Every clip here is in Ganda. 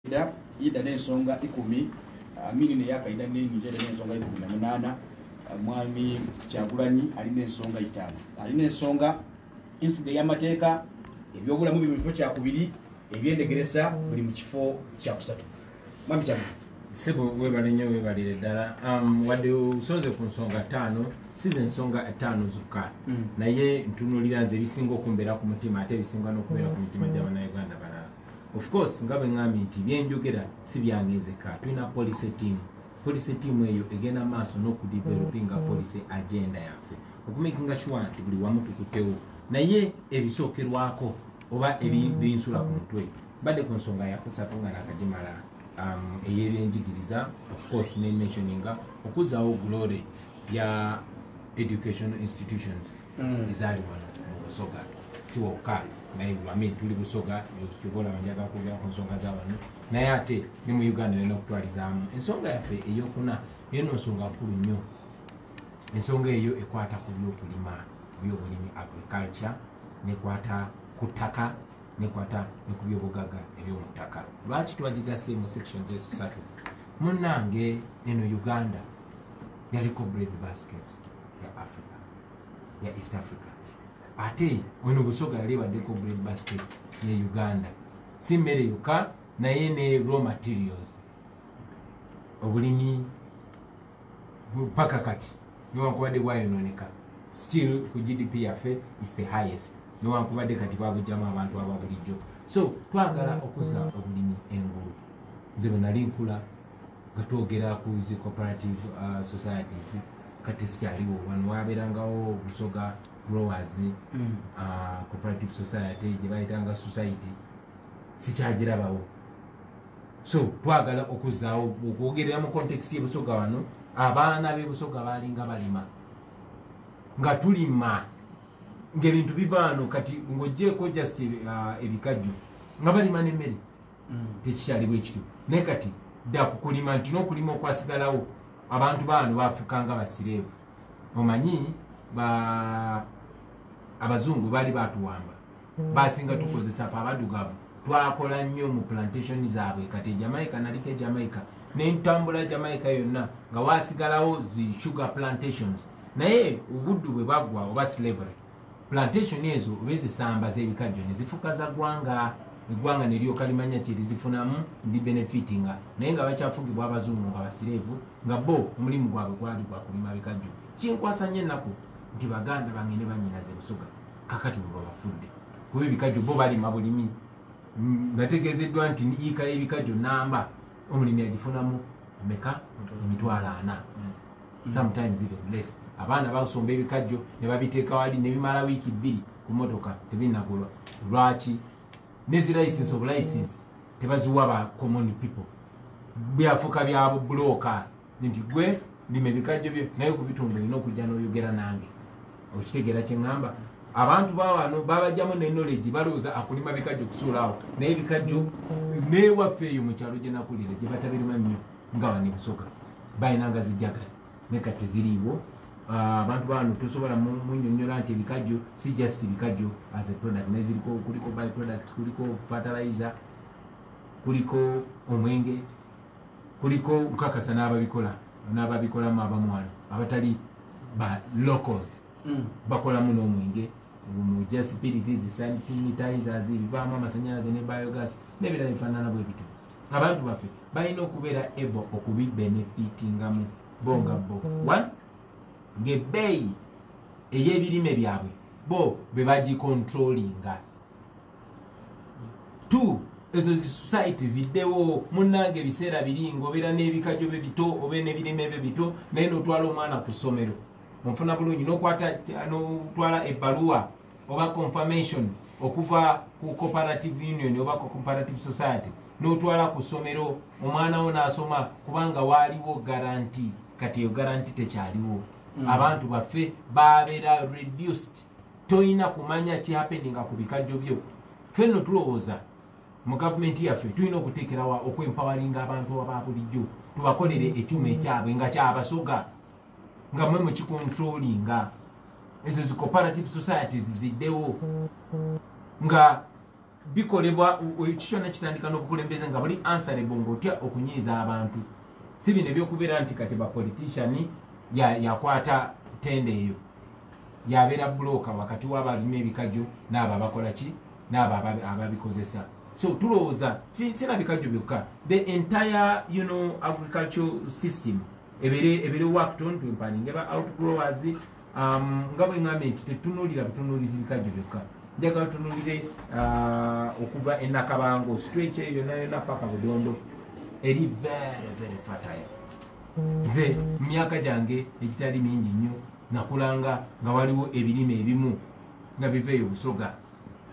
Kaida ida n'ensonga ikumi Amini ne ya Kaida ne Nje ne ensonga ikumi na munana Mwami Kyagulanyi ali n'ensonga itano ali n'ensonga enfuga ey'amateeka ebyobulamu biri mu kifo kyakubiri ebyendegeresa buli mu kifo kyakusatu mwami Kyagulanyi sebo webale nnyo webalire ddala um, wadde osonze ku nsonga ttaano si ze nsonga ttaano zokka mm. naye ntunulira nze ebisinga okumbeera ku mutima ate ebisinga n'okubeera ku mitima gy'abanauganda balala of course nga bwe ŋŋambye nti byenjogera si byange nzekka tulina policy team policy team eyo egenda maaso n'okudevelopinga mm-hmm. policy agenda yaffe okumakinga sure nti buli wamu tukutewo naye ebisookerwako oba mm-hmm. ebinsula ku mutwe badde ku nsonga yakusatu nga nakagimala um, eyebyenjigiriza of course ne mentioninga okuzzaawo glory ya educational institutions mm. ezaali wano mu busoga si wokka naye amin tuli busoga tukola banjaga kwogera ku nsonga za wano naye ate ne mu uganda nena okutwalizaamu ensonga yaffe eyokuna yeno nsonga nkulu nnyo ensonga eyo ekwata ku byokulima byobulimi agriculture nekwata ku ttaka nekwata ne ku byobugaga ebyomu ttaka lwaki twagigase mu section zesatu munnange eno uganda yaliko bread basket ya africa ya east africa ate ono busoga yali ebaddeko bread basket ye uganda si mmere yokka naye ne raw materials obulimi paka kati newankubadde bwayononeka still ku gdp yaffe is the highest newankubadde kati babujjamu abantu ababulijjo so twagala okuza obulimi engulu nze bwenali nkula katwogera ku zi cooperative uh, societies kati sikyaliwo wano wabeerangawo busoga growers mm. uh, cooperative society gye bayitanga society sikyagirabawo so twagala okuzaawo okwogerera mu context yebusoga wano abaana bebusoga balinga balima nga tulima ngaebintu bivaano kati ngojjeeko just uh, ebikajjo nga balima nemmere mm. tekikyali bwekityo naye kati dda kukulima nti nokulima okwasigalawo abantu baano bafukanga basireevu omanyi ba abazungu baali batuwamba mm. basinga tukozesa fe abadugavu twakola nnyo mu plantation zaabwe kati ejamaica naliko ejamaica nentambula jamaica yonna nga wasigalawo zi sugar plantations naye obuddu bwe baggwa oba slavery Plantation ezo bezisambaza ebikajjo nezifuka za gwanga egwanga nelyoka limanya kyelizifunamu ndi benefitinga naye nga bakyafugibwa abazungu nga basirevu nga bo omulimu gwabwe gwali gwakulima bikajjo kinkwasa nyo enaku nti baganda bange ne banyinaze busoga kakati bwebabafudde kuba ebikajjo bo balima bulimi nategezeddwa nti yiika yebikajjo namba omulimi agifunamu meka emitwalo ana mm. sometimes even less abaana basomba ebikajjo ne babiteeka wali ne bimala wiiki bbiri ku motoka tebinagulwa lwaki nezi license of license tebaziwa ba common people byafuka byabo bulooka nti gwe lima ebikajjo byo naye ku bitundu olina okujja n'oyogera nange okitegeera kye ŋŋamba abantu bawano babajjamu ne knowledge balowooza akulima bikajjo kusuulaawo naye ebikajjo neewaffe eyo mu kyalo gye nakulira gye batabirima nnyo nga bane busoga balina nga zijagala naye kati teziriiwo ah, abantu bano tosobola munyonyola nti ebikajjo si just bikajjo as a product naye ziriko kuliko by product kuliko fertilizer kuliko omwenge kuliko nkakasa n'ababikola n'ababikolamu abamwana abatali ba locals mm. bakolamu n'omwenge mujasipiritizi sanitizers bivaamu amasanyalaze ne biogas n'ebirala bifaanana bwe bityo abantu baffe balina okubeera able okubibenefitingamu bo nga bo one ngaebbeeyi ey'ebirime byabwe bo be bagikontrolinga two ezo zi society ziddewo munnange ebiseera biri ngaobeera n'ebikajo bye bito obe n'ebirime bye bito naye n'otwala omwana ku ssomero onfuna bulungi n'okwata n'otwala ebbaluwa oba confirmation okuva ku cooperative union oba ku cooperative society n'otwala ku ssomero omwana wo n'asoma kubanga waaliwo garanti kati eyo garanti tekyaliwo mm. abantu baffe babeera reduced tolina kumanya kihapeninga ku bikajjo byo fenno tulowooza mu gavumenti yaffe tulina okuteekerawa okwempawalinga abantu ababulijjo tubakolere ekyuma ekyabwe nga kyabasoga nga mwe mukikontrolinga ezo zi cooperative societies ziddewo nga bikolebwa ekikyona kitandika n'obukulembeze nga buli ansarebo ngaotya okunyiiza abantu si bino ebyokubeera nti kati bapolitician yakwata ya tende eyo yabeera bulooka wakati wabalina ebikajjo naabo abakola ki naabo ababikozesa so tulowooza sirabikajjo byokka the entire you know, agricultural system ebere ebere wa kutonda mpani ngeba outgrowers um nga bwe ngambye nti tetunulira butunulizi bikajjo byokka njagala tunulire uh, okuva enakabango stretch eyo yona yona paka budondo eri very very fertile nze mu myaka gyange egitali mingi nnyo nakulanga nga waliwo ebirime ebimu nga biva eyo busoga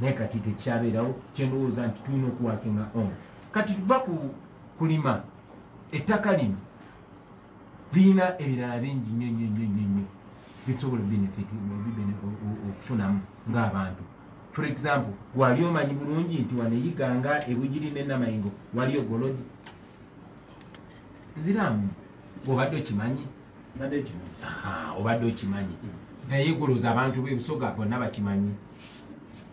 naye kati tekikyabeerawo kyendowooza nti tulina okuwakinga on kati tuva ku kulima ettaka lino lirina ebirala bingi nyo nyo nyo nyo nyo bisobola okufunamu ngaabantu for example wali omanyi bulungi nti waneyiganga ebugiri nenamayingo waliyo golodi nziramu obadde okimanyi obadde okimanyi naye goloza abantu bebusoga bonna bakimanyi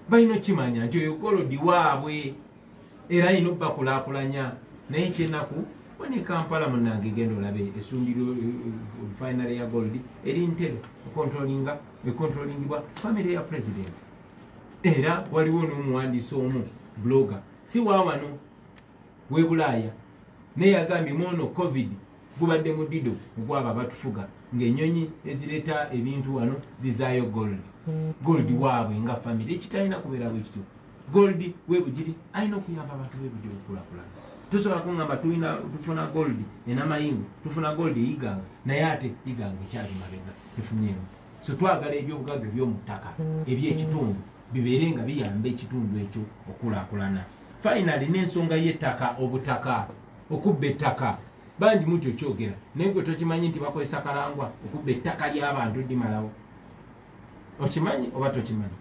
balina okimanya nti oyo golodi waabwe era yina obakulakulanya naye kyenaku one kampala munange genda olabe esundiro eh, eh, finary ya gold eri ntebe econtrolinga econtrolingibwa family ya president era waliwo nomuwandisi omu bloga si wawano webulaaya naye yagambye mwono covid gubadde mudido ogwaba batufuga ngaenyonyi ezireta ebintu wano zizayo gold gold waabwe nga famiry ekitalina kubeera bwekityo gold webugiri alina okuyamba abantu webugiri okulakulana tusobola kungamba tulina tufuna gold enamayingo tufuna gold eyiganga naye ate iganga ekyali mabega tefunyeemu so twagala ebyobugaga ebyomu ttaka ebyekitundu bibeere nga biyamba ekitundu ekyo okulakulana finally n'ensonga y'ettaka obutaka okubba ettaka bangi muti okyogera naye gwe tokimanyi nti bakozesa kalangwa okubba ettaka ly'abantu dimalawo okimanyi oba tokimanyi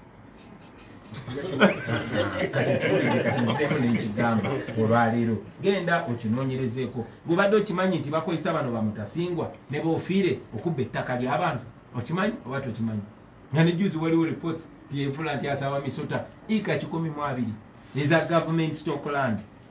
nekigamba olwaleero genda okinonyerezeeko gubadde okimanyi nti bakozesa bano bamutasingwa nebofiire okubba ettaka lyabantu okimanyi oba tokimanyi nga nejuzi waliwo reports tyevula nti asawa misota ika kikumi mu abiri eza government stockland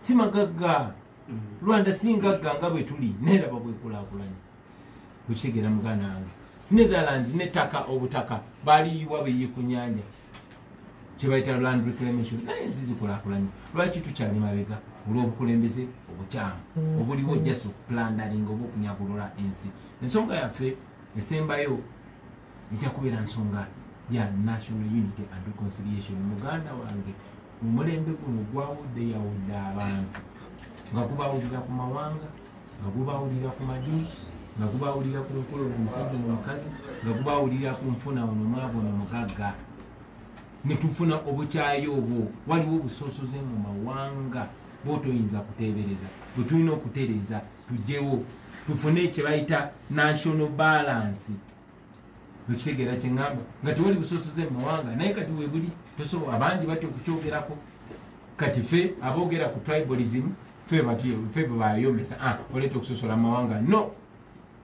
si magagga mm. rwanda si ngagga nga bwe tuli neraba bwekulakulanya okitegeera muganda wange netherland nettaka obutaka baliyiwa beyi ku nyanja kyebayita land reclamation naye ensi zikulakulanya lwaki tukyali mabega olw'obukulembeze obukyamu mm. obuliwo just okulandaringa oba okunyagulula ensi ensonga yaffe esembayo ejja kubeera nsonga ya national unity and reconciliation muganda wange omulembe guno gwawuddeyawudde abantu nga gubawulira ku mawanga nga gubawulira ku madini nga gubawulira ku nkolo omusajja nomukazi nga gubawulira ku nfuna onomwavu nomugagga netufuna obukyayi obwo waliwo obusosoze mu mawanga bwotoyinza kutebereza bwetulina okutereeza tujewo tufune kyebayita national balance okitegeera kyeŋamba nga tewali busosoze mu mawanga naye kati webuli tosobola abangi batya okukyogerako kati fe aboogera ku tribalism fe bebayomesa ah, oleeta okusosola mu mawanga no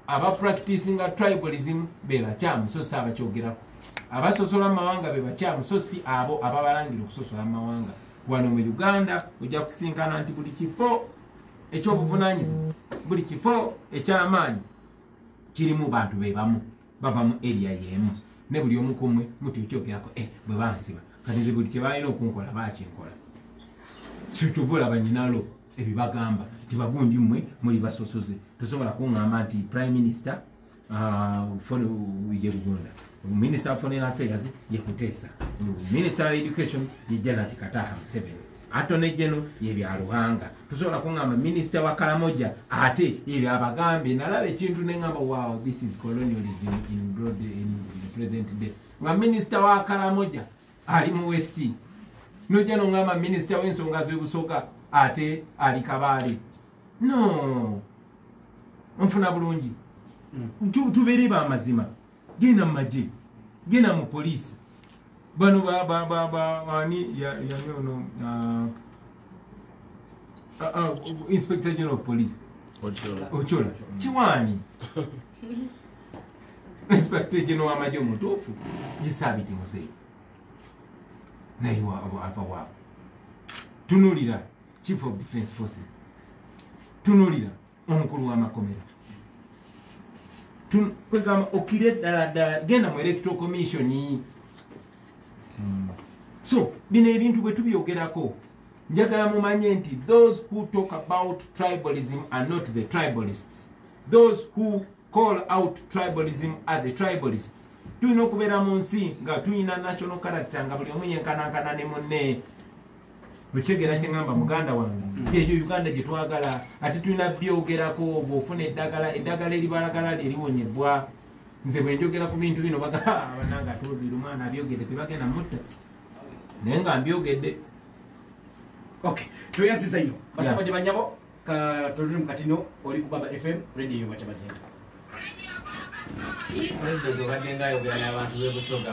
aba practicinga tribalism bebakyamu so si abakyogerako abasosola mu mawanga bebakyamu so si abo ababalangira okusosola mu mawanga wano mu uganda ojja kusinkana nti buli kifo ekyobuvunanyizibwa buli kifo ekyamaanyi kirimu bantu be bamu bava mu eriya y'emu ne buli omu ku mmwe mutyokyogerako e eh, bwe bansiba kati nze buli kye balina okunkola bakinkola sikyova olaba nyinalo ebyo bagamba nti bagundi mmwe muli basosoze tosobola kuŋŋamba nti prime minister ah, fone ye lugunda minister of foreign affairs ye kuteesa minister of education ye janati kataha museveni Attorney General ye bya Ruhanga. Tusobola kungamba Minister wa Karamoja ate ye bya Bagambe. Nalaba ekintu ne ngamba wow this is colonialism in broad in the present day. Nga Minister wa Karamoja ali mu West. Noja no ngamba Minister w'ensonga z'ebusoga ate ali Kabale. No. Mfuna bulungi. Mm. Tubere ba mazima. genda mu magye genda mu poliisi bano ani yani ono uh, uh, uh, inspector general of police ocola kiwaani inspector general wamagye omutuufu yesaabiti muzeeyi naye ava waabo tunulira chief of defense forces tunulira omukulu wamakomera kwegamba okire ddala ddala genda mu electoral commission hmm. so bino ebintu bwe tubyogerako njagala mumanye nti those who talk about tribalism are not the tribalists those who call out tribalism are the tribalists tulina okubeera mu nsi nga tulina national character nga buli omu yenkanankana ne munne okitegera kyeŋamba muganda wange yeyo uganda gyetwagala ati tulina byogerako bwofuna eddagala eddagala eribalagala lyeriwonyebwa nze bwenjogera ku bintu bino babananga atobiri omwana abyogedde tebagenda mutta naye nga mbyogedde ok tweyaziza nyo basabadi banyabo katoluli mukatino oli ku baba fm radio yobakyabazinga president obadde nga ayogera n'abantu bebusoga